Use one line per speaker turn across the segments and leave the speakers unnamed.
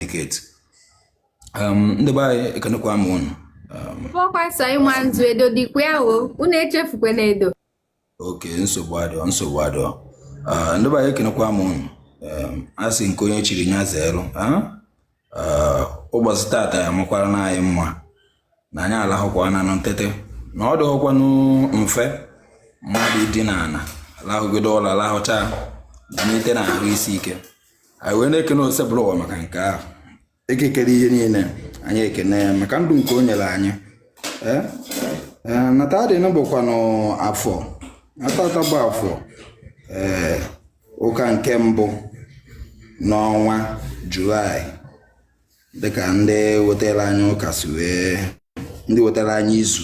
communicate um, ndị be anyị ekenekwa m unu bụkwa um, sọ
ịma nzu edo dịkwa ya o unu echefukwana edo
okay nsogbu adịọ nsogbu adịọ uh, ndị be anyị ekenekwa m unu um, a sị nke onye chiri nya zeeru uh, ụbọchị tata ya makwaranụ anyị mma na anyị alahụkwananụ tete na ọ dịghọkwanụ mfe mmadụ idina ala lahụgide ụla alahụcha nite na ahụ isi ike anyị wee na-ekene Osebụrụwa maka nke ahụ Eke kere ihe niile anyị ekene ya maka ndụ nke o nyere anyị Eh? Eh, na taa dịnụ bụkwanụ afọ ah tata bụ afọ ee eh, ụka nke mbụ n'ọnwa julaị dịka ndị wetara anyị ụka si wee ndị wetara anyị izu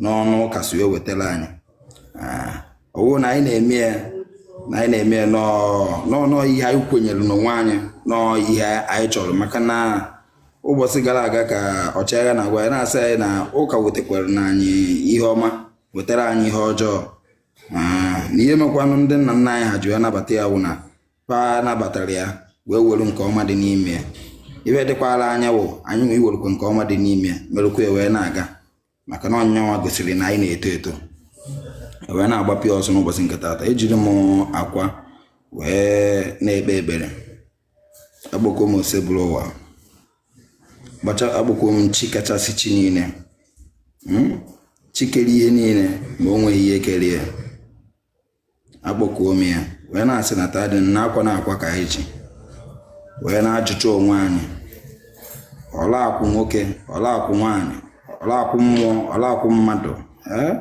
n'ọnụ ụka si wee wetara anyị ah, ọ wụ na anyị na-eme ya na anyị na-eme ya na ọ wụ ihe anyị kwenyere n'onwe anyị na ọ ihe anyị chọrọ maka na ụbọchị gara aga ka ọchịagha na-agwa ya na-asị anyị na ụka wetakwaranụ anyị ihe ọma wetara anyị ihe ọjọọ ah, na ihe mekwanụ ndị nna nna anyị ha ji wee nabata ya wụ na fa nabatara ya wee were nke ọma dị n'ime ya ife dịkwara anyị wụ anyị nwa iwerukwa nke ọma dị n'ime ya merụkwa ya wee na-aga maka na ọ nya nwa gosiri na anyị na-eto eto e wee na-agbapịa ọsọ n'ụbọchị nke taata ejiri m akwa wee na-ekpe ekpere akpọkuo m Osebụrụwa akpọkuo m chi kachasị chi niile hmm? chi kere ihe niile ma o nweghị ihe kere ya akpọkuo m ya wee na-asị na taa dị na akwa na akwa ka anyị ji wee na-ajụcha onwe anyị ọla akwụ nwoke ọla akwụ nwaanyị ọla akwụ mmụọ ọla akwụ mmadụ ee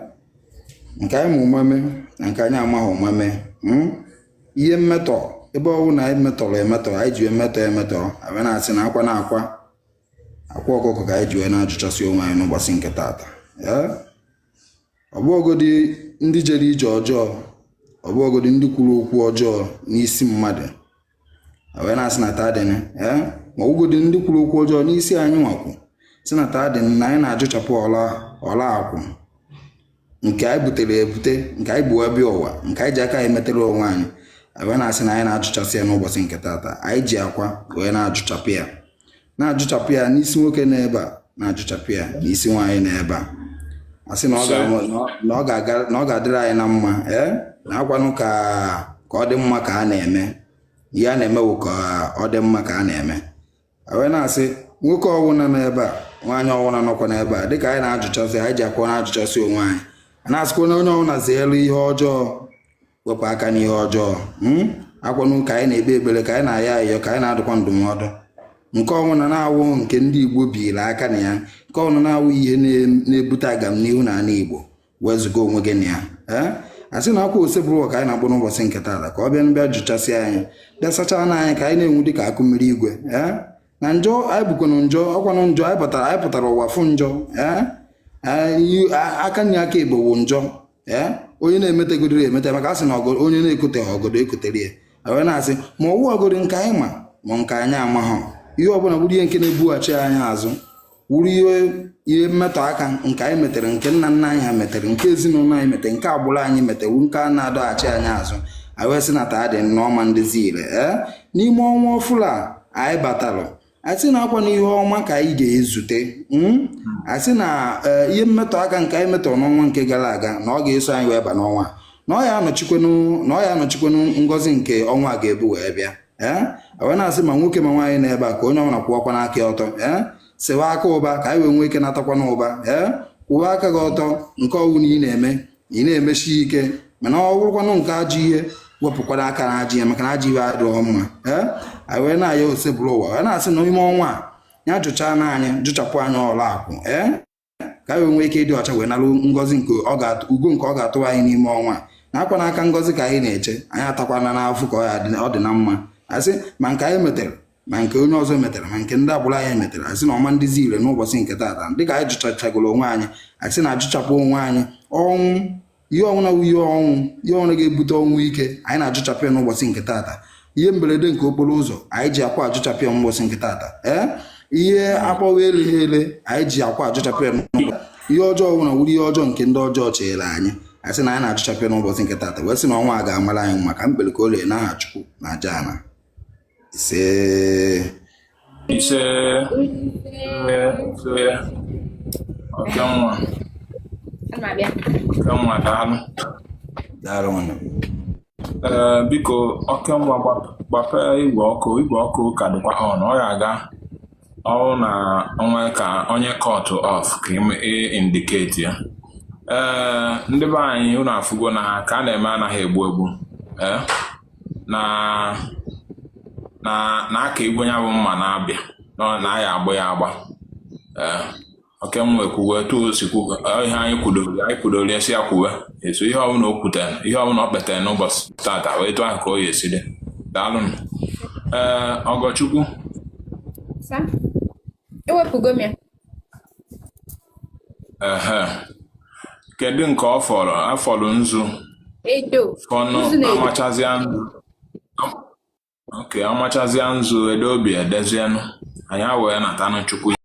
nke anyị ma ụma mee na nke anyị amaghị ụma mee hmm? ihe mmetọ ebe ọwụna anyị metọrọ emetọ anyị ji emetọ emetọ a bịa na-asị na akwa na akwa akwa ọkụkọ ka anyị ji wee na-ajụchasị onwe anyị n'ụbọchị nke taata ee ọ bụgodi ndị jere ije ọjọọ ọ bụgodi ndị kwuru okwu ọjọọ n'isi mmadụ wee na-asị na taa dịnụ ee ma ọ wụgodi ndị kwuru okwu ọjọọ n'isi anyị nwa kwusi na taa dịnụ na anyị na-ajụchapụ ọla ọla akwụ nke anyị butere ebute nke anyị bu abịa ụwa nke anyị ji aka anyị metere onwe anyị wee na-asị na anyị na-ajụchasị ya n'ụbọchị nke taata anyị ji akwa wee na-ajụchapụ ya na-ajụchapụ ya n'isi nwoke nọ ebe a na-ajụchapụ ya n'isi nwaanyị nọ ebe a a sị na ọ ga- na ọ ga-aga- na ọ ga-adịrị anyị na mma ee na ọ kwanụ ka ka ọ dị mma ka a na-eme ihe a na-eme bụ ka ọ dị mma ka a na-eme a wee na-asị nwoke ọwụna nọ ebe a nwaanyị ọwụna nọkwa n'ebe a dịka anyị na-ajụchasị anyị ji akwa na-ajụchasị onwe anyị a na-asịkwa na onye ọwụna zeelu ihe ọjọọ wepụ aka n'ihe ọjọọ hmm? akwanụ ka anyị na-ekpe ekpere ka anyị na-ayọ ayọ ka anyị na-adụkwa ndụmọdụ nke ọnwụna na-awụ nke ndị igbo biiri aka na ya nke ọnwụna wụ ihe na-ebute agam n'ihu na ala igbo wezuga onwe gị na ya eh? a sị na akwa osebụrụ ka anyị na-akpọ n'ụbọchị nke taata ka ọ bịa mbịa jụchasị anyị bịa sachaanụ anyị ka anyị na-enwu dị ka akụ mmiri igwe eh? na njọ anyị bụkwanụ njọ ọkwanụ njọ anyị pụtara anyị pụtara ụwa fụ njọ eh? aka nri aka igbo wụ njọ ee onye na-emetegodoro emete maka asị na ọgọdọ onye na-ekoteha ọgọdọ ekotere ya wee na-asị ma ọwụ ọgọdọ nke anyị ma ma nke anyị amaha ihe ọbụla bụrụ ihe nke na-ebughachi anyị azụ wụrụ ihe ihe mmetọ aka nke anyị metere nke nna nna anyị ha metere nke ezinụlọ anyị metere nke agbụrụ anyị metere wụ nke a na-adọghachi anyị azụ anyị wee sị na taa dịnụ ọ ma ndịzi ire ee n'ime ọnwa ọfụlụ a anyị batara asị na akwanụ ihe ọma ka anyị ga-ezute hmm? asị na eh, ihe mmetọ aka nke anyị metọrọ n'ọnwa nke gara aga na ọ ga-eso anyị wee ba n'ọnwa na ọ ya anọchikwanụ na ọ ya anọchikwanụ ngọzi nke ọnwa a ga-ebu wee bịa ee eh? wee na-asị ma nwoke ma nwaanyị na ebe a ka onye ọbụla kwụwakwanụ aka ọtọ ee eh? sewa aka ụba ka anyị wee nwee ike natakwanụ ụba ee kwụwa aka gị ọtọ nke ọwụna ị na-eme ị na-emesi ike mana ọ bụrụkwanụ nke ajọ ihe wepụkwara aka na ajọ ihe maka na ajọ ihe adịghị mma ee anyị wee na-ayọ Osebụrụwa wee na-asị na ime ọnwa a ya jụchaanụ anyị jụchapụ anyị ọla akwụ ee ka anyị nwee ike ịdị ọcha wee nalụ ngọzi nke ugo nke ọ ga-atụ anyị n'ime ọnwa na akwanụ aka ngọzi ka anyị na-eche anyị atakwana n'afọ ka ọ dị na mma asị ma nke anyị metere ma nke onye ọzọ metara ma nke ndị agbụrụ anyị metara asị na ọ ma ndịzi ire n'ụbọchị nke taata dịka anyị jụchachagoro onwe anyị asị na ajụchapụ onwe anyị ọnwụ ihe ọnwụna ihe ọnwụ ihe ọnwụ ga-ebute ọnwụ ike anyị na-ajụchapụ ya n'ụbọchị nke taata ihe mberede nke okporo ụzọ anyị ji akwa ajụchapụ ya n'ụbọchị nke taata ee ihe akpọwa eleghị ele anyị ji akwa ajụchapụ ya ihe ọjọọ ọnwụna wụrụ ihe ọjọọ nke ndị ọjọọ chere anyị asị na anyị na-ajụchapụ ya n'ụbọchị nke taata wee sị na ọnwa a ga-amara anyị mma ka m kpere ka o lee n'aha Chukwu na aja ana isee
isee isee Okenwa
Okenwa daalụ
daalụ
nwanne ee biko
Okenwa gbapee igwe okwu igwe okwu ka dịkwa on ọ ya aga ọrụ na o nwee ka onye cut off ka e indicate ya ee ndị be anyị unu afụgo na ha ka a na-eme anaghị egbu egbu ee na na na aka igwe ya bụ mma na-abịa na anaghị agba ya agba ee Okenwa ekwuwe etu o si kwuwe ọ ihe anyị kwudoro anyị kwudoro ya si ya kwuwe eso ihe ọbụla o kwutere ihe ọbụla o kpetere n'ụbọchị tata wee etu ahụ ka o ya esi dị daalụnụ ee Ọgọchukwu
Sa? Ewepụgo m ya.
ehe kedu nke ọ fọrọ afọrọ nzu edo
fọnụ nzu na
edo
amachazịa
nzu oke amachazịa nzu edo obi edezienụ anyị wee natanụ chukwu